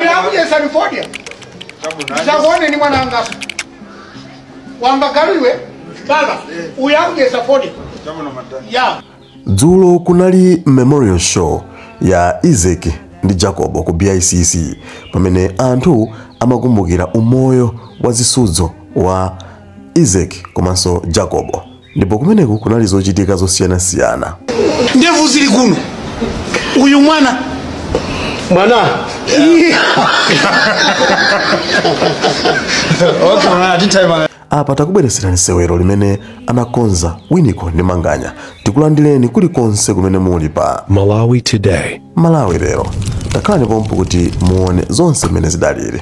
ndinakudyesani fodya ndisakuone ni mwana angaso wamva galu iwe baba uyo akudyesa fodya ya dzulo kunali memorial show ya isaac ndi jacobo ku bicc pamene anthu amakumbukira umoyo wa zisudzo wa isaac komanso jacobo ndipo kumeneku kunali zochitika zosiyanasiyana ndevu zili kuno uyu mwana mwana apa takubweretserani sewero limene anakonza winiko ndi manganya tikulandireni kulikonse kumene muli pa Malawi Today. malawi lero takhalani pomwepo kuti muone zonse mmene zidaliri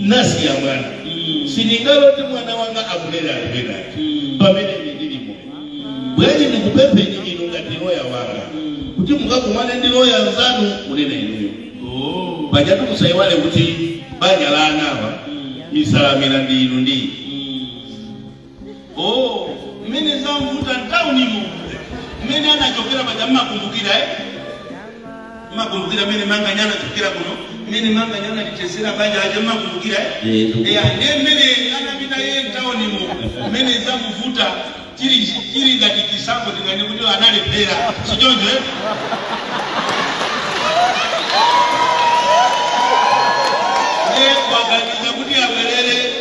nasiya mwana sindingalole kuti mwana wanga amulera anthu ena pamene ine ndili moyo bwenzi ndikupempheni inu ngati loya wanga kuti mukakumane ndi loya anzanu kunena inuyo pajatu musayiwale kuti banja la anawa isalamira ndi inu ndi ine Oh, mmene zamvuta mtaunimo mmene anachokera paja mmakumbukira eh? mmakumbukira mmene manganya anachokera kuno mmene manganya analichezera banja aja mmakumbukira eh? Yego. Yeah, ndiye mmene anapita yeye mtaunimo mmene zamuvuta chili chili ngati chisapo tingane kuti analephera sichoncho eh? ndiye waganiza kuti abwerere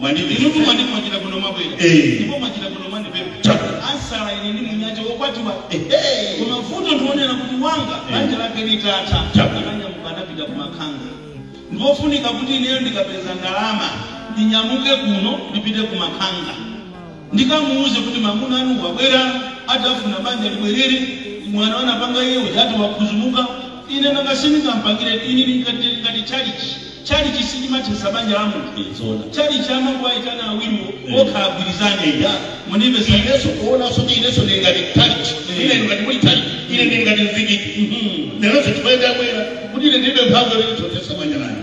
Mwandipeza. Inutu mwati mwachita bwino mwabwera. Eh. Ndipo mwachita bwino mwandipeza. Chabwino. Ansala ine ndi mnyake wokwatiwa. Ehe. Koma vuto ndionela kuti wanga banja lake litatha. Chabwino. Ananyamuka anapita ku Makhanga. Ndiofunika kuti ineyo ndikapeza ndalama ndinyamuke kuno ndipite ku Makhanga. Ndikamuuze kuti mamuna anu wabwera ati afuna banja libwerere, mwano umene anapanga iye uja ati wakhuzumuka, ine nanga sindingampangire ine ndili ngati ndili ngati chalichi, chalichi sichimathetsa banja la munthu eti, Zoona. chalichi amangowaitana awiriwo Eh. okha agwirizane eya, mundimvetsa ineso kuona soti ineso ndili ngati chalichi, Eh. ine ngati muli chalichi, ine ndili ngati mzikiti. Mhm. Lero sitikuenda bwera kuti ine ndibe mphamvu yoti ndithetsa banja langa.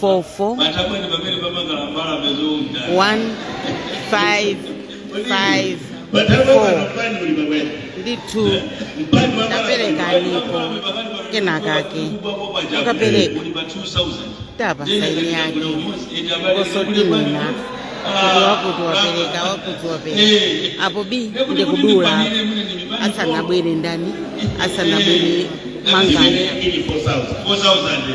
four four matabwa ndi pamene pamangala mbalame zounda one five five matabwa four panopani uli pamene ndi two mpani wa Taperekanipo kenakake. Mukapereka. Tapa saini yake. Kosotimina. Kuti wakuti wapereka wakuti wapereka apo biii ndikudula asanabwere ndani asanabwere manganya 4,000.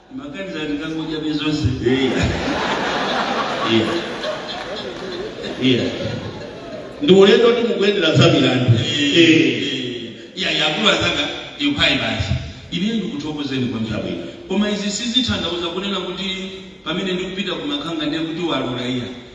Maganiza ndikangodya bezonse. Iya. Iya. Iya. Ndi ulendo kuti mukuyendera za milandu. Eh. Iya yakulu anzanga yukai basi. Ine ndikuthokozeni kwambiri. Koma izi sizitanthauza kunena kuti pamene ndikupita kumakanga ndiye kuti walola iya.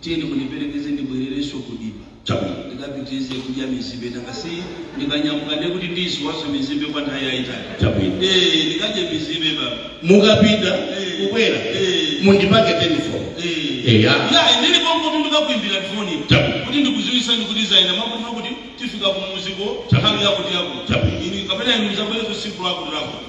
Tiyeni mundiperekeze ndibwererenso ku dimba. Chabwino, ndikapitirize kudya mizimbe, nanga si ndikanyamuka ndiye kuti ndiyiwala mizimbe kwa nthawi yayitali. Chabwino. Eh, ndikadye mizimbe baba. Mukapita Eh. kubwera Eh. mundipatse telefoni. Eh. Eya. Ya, ndibwino kuti ndikakuimbira foni. Chabwino. Kuti ndikudziwitsani kuti zaina mwakuti mwakuti tifika kumuziko Chabwino. nthawi yakuti yakuti. Chabwino. Ine kapena inu mudzabwere tsiku lakuti lakuti.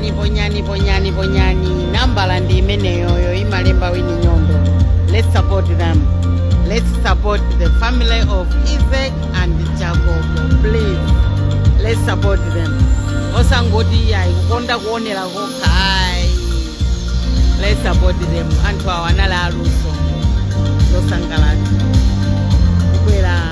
Ni ponyani ponyani ponyani nambala ndi imeneyoyo imalemba Winnie Nyondo let's support them let's support the family of Isaac and Jacob please let's support them osangoti iyayi kukonda kuonera kokha ayi let's support them anthu awa anali aluso losangalatsa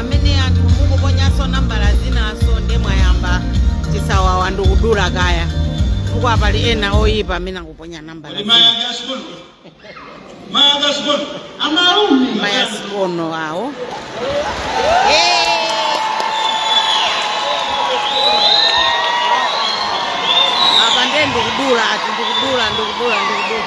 amene anthu mukuponyanso nambala zinanso nde mwayamba chisawawa ndikudula kaya chifukwa pali ena oyipa amene akuponya nambala Kodi maya zina. gasikono? Maya gasikono? Amalume. mayasikono awo Eh. apa nde ndikudula ati ndikudula ndikudula ndikudula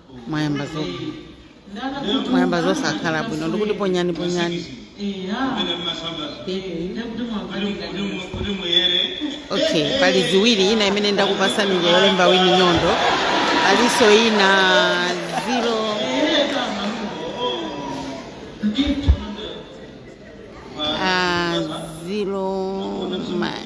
mwayamba zo mwayamba zosakhala bwino ndikuti ponyani ponyani okay pali ziwiri ina imene ndakupatsani ija yolemba Winnie Nyondo palinso ina zero ah, zero ma-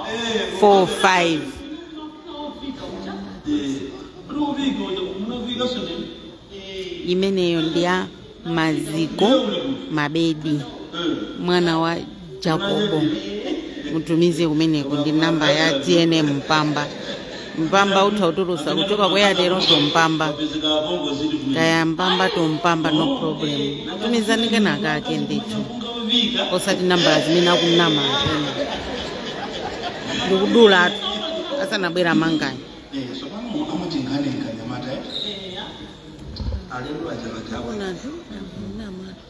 4706645 imeneyo ndi ya Maziko Mabedi mwana wa Jacobo mutumize kumeneko ndi namba ya TNM Mpamba Mpamba mutha kutulutsa kuchoka kwa Airtel to Mpamba kaya Mpamba to Mpamba no problem tumizani kena kake ndithu osati nambala zimene akunama ena ndikudula atu asanabwera Manganya Alemba aja aja. Ona tu, nama tu.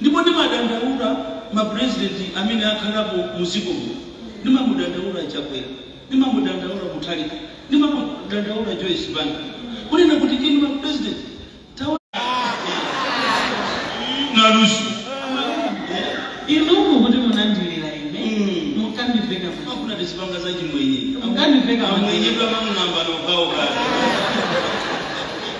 Ndipo ndimadandaula ma president amene akhalapo mu dziko muno. Ndimamudandaula Chakwera, ndimamudandaula Mutharika, ndimamudandaula Joyce Banda kunena kuti inu ma president taonani luso Inuyo kuti munandilira ine Mm. mukandiveka kuti akuna tizipanga za chimwenye Mukandiveka amwenye kwa mamulamba nokhawo kale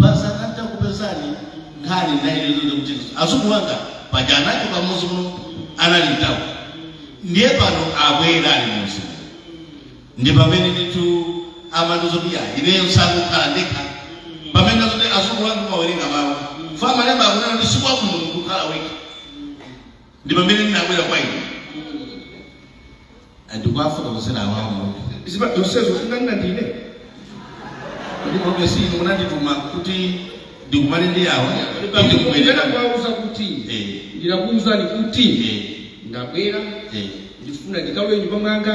pasaka ndakupezani nkhani nayo ndi yoti kuti azungu wanga paja anachoka muzi muno anali mtauni ndiye pano abwera ali muzi muno ndi pamene nditu amandiuza kuti ayi ineyo sakukhala ndekha pamene mwazonse azungu wanga amawerenga mawu a m'malemba akunena kuti si kwabwino kukhala wekha ndi pamene ndinabwera kwa inu ndikuwafotokozera awa mudziwa zonsezo munganene ndine kuti kobe si inu munandituma kuti ndikumane ndi awa kuti pamene ndikubwerera kwauza kuti Eh. ndinakuuzani kuti Eh. ndabwera eh. ndifuna ndikalowe nyumba mwanga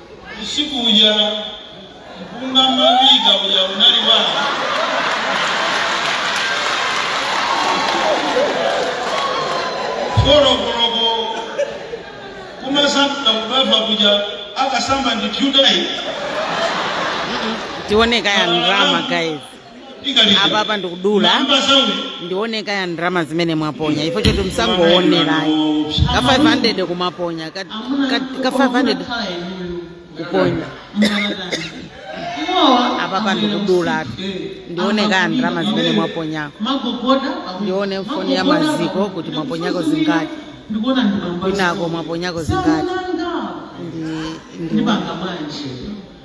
Usiku uja mpunga mmaphika uja unali wanga. Folo koloko kumasamba kubafa kuja akasamba ndi pyudayi tione kaya ndrama guys apapa ndikudula ndione kaya ndalama zimene mwaponya info yoti musangoonera ayi ka 500 kumaponya ka, ka, ka 500 kuponya apapa ndikudula ndione kaya ndalama zimene mwaponyako ndione mfoni ya maziko kuti mwaponyako zingati kwinako mwaponyako zingati ndi, ndi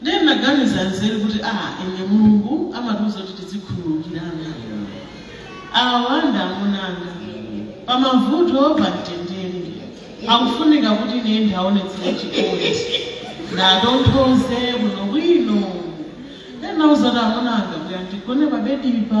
Ndiye ndinaganiza nzeru kuti a ine Mulungu amatiuza kuti tidzikhululukirana. Awa ndi amunanga. Pa mavuto pa mtendere. Akufunika kuti ine ndiwaonetsere chikondi. Ndiwatonthoze bwino bwino. Ndinauza kuti amunanga kuti andigone pa bedipa.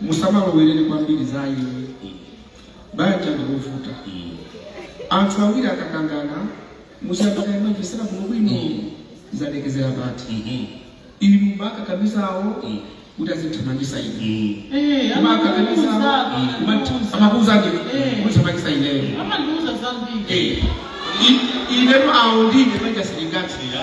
musamalowerere kwambiri za ine banja ndikuvuta anthu awiri akakangana musiyambaka imwepo sina kuno bwino zalekezera pati inu mumakakamiza awo kuti azithamangisa ine Eh, mumakakamiza awo amatiuza amakuuza ndi Eh. kuthamangisa ineyo amandiuza zambiri Eh, i- inetu awo ndine manja silingatira